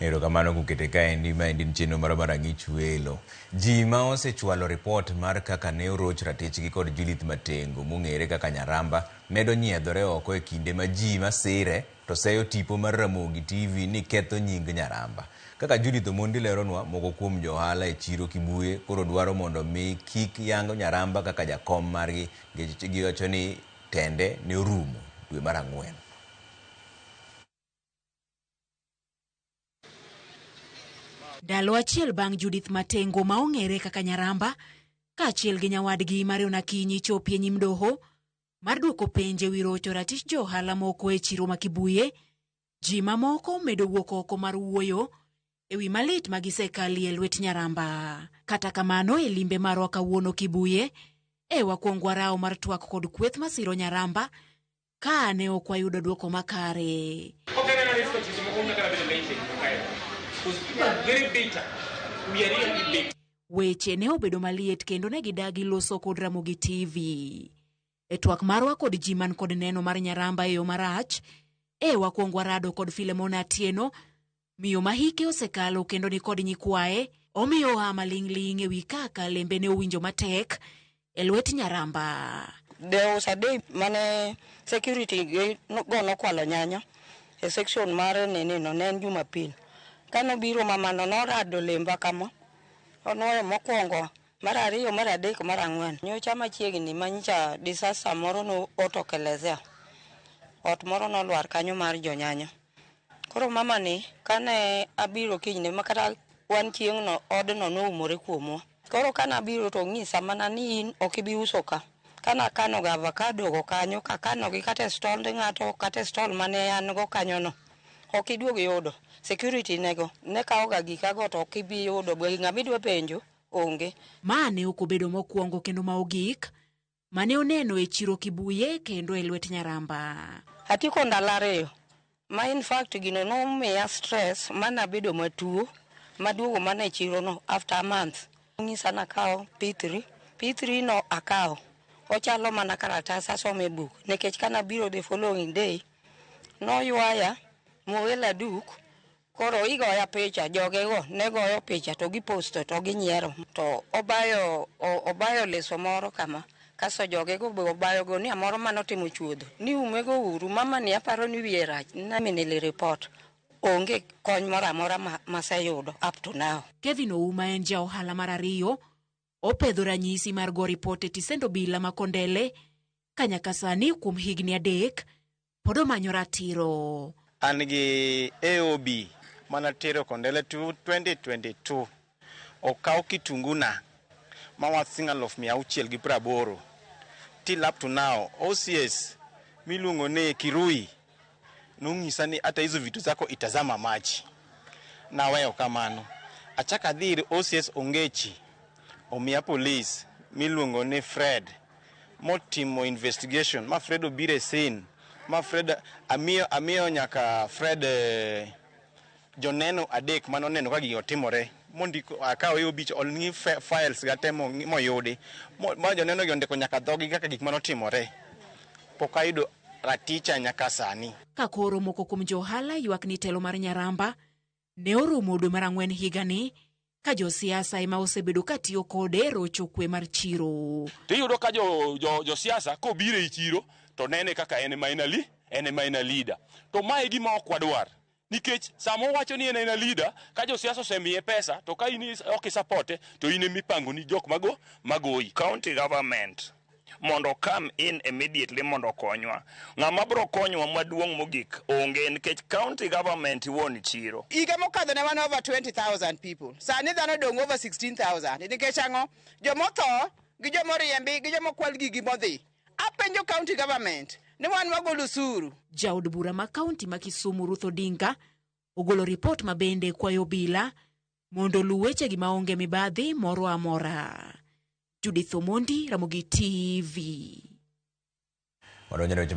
Erokamano kukete kaendi. Maendi en chenro mara mar Ang'ich Welo. Ji ma osechwalo ripot mar kaka ne oroch ratichgi kod Judith Matengo mong'ere kaka Nyaramba medo nyiedhore oko e kinde ma ji ma sire to seyo tipo mar Ramogi TV ni ketho nying Nyaramba. Kaka Judith Omondi leronwa, moko kuom jo ohala e chiro Kibuye koro dwaro mondo omi kik yang Nyaramba kaka jakom margi nikech giwacho ni tende ne orumo dwe mar ang'wen. Ndalo achiel bang' Judith Matengo ma ong'ere kaka Nyaramba kaachiel gi nyawadgi Marion Akinyi chopie nyim doho mar duoko penje wi rocho ratich jo ohala moko e chiro ma Kibuye, ji mamoko medo wuok oko mar wuoyo e wi malit ma gisekalie lwet Nyaramba. Kata kamano e limbe marwa kawuono Kibuye, e wakwong warawo mar twak kod kweth masiro Nyaramba Ka ne ok wayudo dwoko makare. Weche ne obedo maliet kendo ne gidagi loso kod Ramogi TV. E twak marwa kod ji man kod neno mar Nyaramba e yo marach, e wakwong warado kod Filemon Atieno Miyo ma hike osekalo kendo ni kod nyikwaye omiyo oa maling'ling' ewi kaka lembe ne owinjo matek e lwet Nyaramba. There was a day mane security gi no- go nokwalo nyanya e section mar nini no ne en Jumapil. Kane obiro mamano norado lemba kama, onwoyo mokwongo, mar ariyo, mar adek, mar ang'wen. Nyocha machiegni manyicha disaster moro notokelezea. Ot moro nolwar kanyo mar jonyanya. Koro mamani kane abiro kinyne ma kata wan chieng'no odno noumore kuomwa. Koro kane abiro to onyisa mana ni in ok ibi uso ka. Kane akanoga avakado go kanyo kakanogi kata e stond ng'ato kata e stol mane an go kanyono, ok iduog yudo. Security ne go, ne kawoga gikago to ok ibi yudo. Be ng'ama idwa penjo, onge. Ma ne ok obedo mokwongo kendo ma ogik mane oneno e chiro Kibuye kendo e lwet Nyaramba. Atieko ndalo ariyo ma in fact gino nomiya stress mana bedo matuo maduogo mana e chiro no after a month onyisa nakawo P3 P3 no akawo ochalo mana karatas asome buk nikech kana biro the following day noywaya mowela duk Koro igoya picha, jogego ne goyo picha to giposto to ginyiero. To obayo, o- obayo leso moro kama. Kaso jogego be obayo gunia moro mane otimo chuodho. Ni umego uru, mamani aparo ni wiye rach. Nami nili report. Onge kony moro amora ma, maseyudo up to now. Kevin Ouma en ja ohala mar ariyo opedho ranyisi mar go ripot e tisend obila ma Kondele ka nyaka sani kuom higni adek pod omanyo ratiro. An gi AOB mana tero kondele 2022 okaw kitunguna ma wa sing aluf mia auchiel gi praboro till up to now OCS miluongo ni Kirui nong'isa ni hata hizo vitu zako itazama maji. Naweyo kamano. Achaka adhi ir OCS Ongechi omiya polis miluongo ni Fred motimo investigation ma Fred obiro e scene ma Fred amiyo amiyo nyaka Fred eh, joneno adek mane oneno ka gigi otimore mondiko akawo yo bich olngi files ga te mo- moyudi Mo- ma joneno gi ondiko nyaka dhogi kaka gik mane otimore pok ayudo raticha nyaka sani Ka koro moko kuom jo ohala ywak ni telo mar Nyaramba, ne orumo dwe mar ang'wen higani ka josiasa ema osebedo ka tiyo kode rocho kwe mar chiro. Tiyudo ka josiasa jo, jo kobiro e chiro to nene kaka en ema en ali en ema en leader. To ma e gima ok wadwar nikech sama owacho ni en ema leader ka josiasa osemiye pesa to ka in ok isapote to in ema ipangoni jok mago magoyi. County government mondo okam in immediately mondo okonywa. Ng'ama bro konywa maduong' mogik onge nikech county government wuon chiro. Higa mokadho ne wan over 20,000 people. Sani dhano dong' over 16,000. Nikech ang'o? Jomotho gi jomoriembi gi jomokwal gigi modhi. Apenjo county government ni wan wagolo usuru. Jaod bura ma kaunti ma Kisumu Ruth Odinga ogolo ripot ma bende kwayo obila mondo oluw wechegi maonge mibadhi moro amora. Judith Omondi, Ramogi TV. Wadonjo e weche mag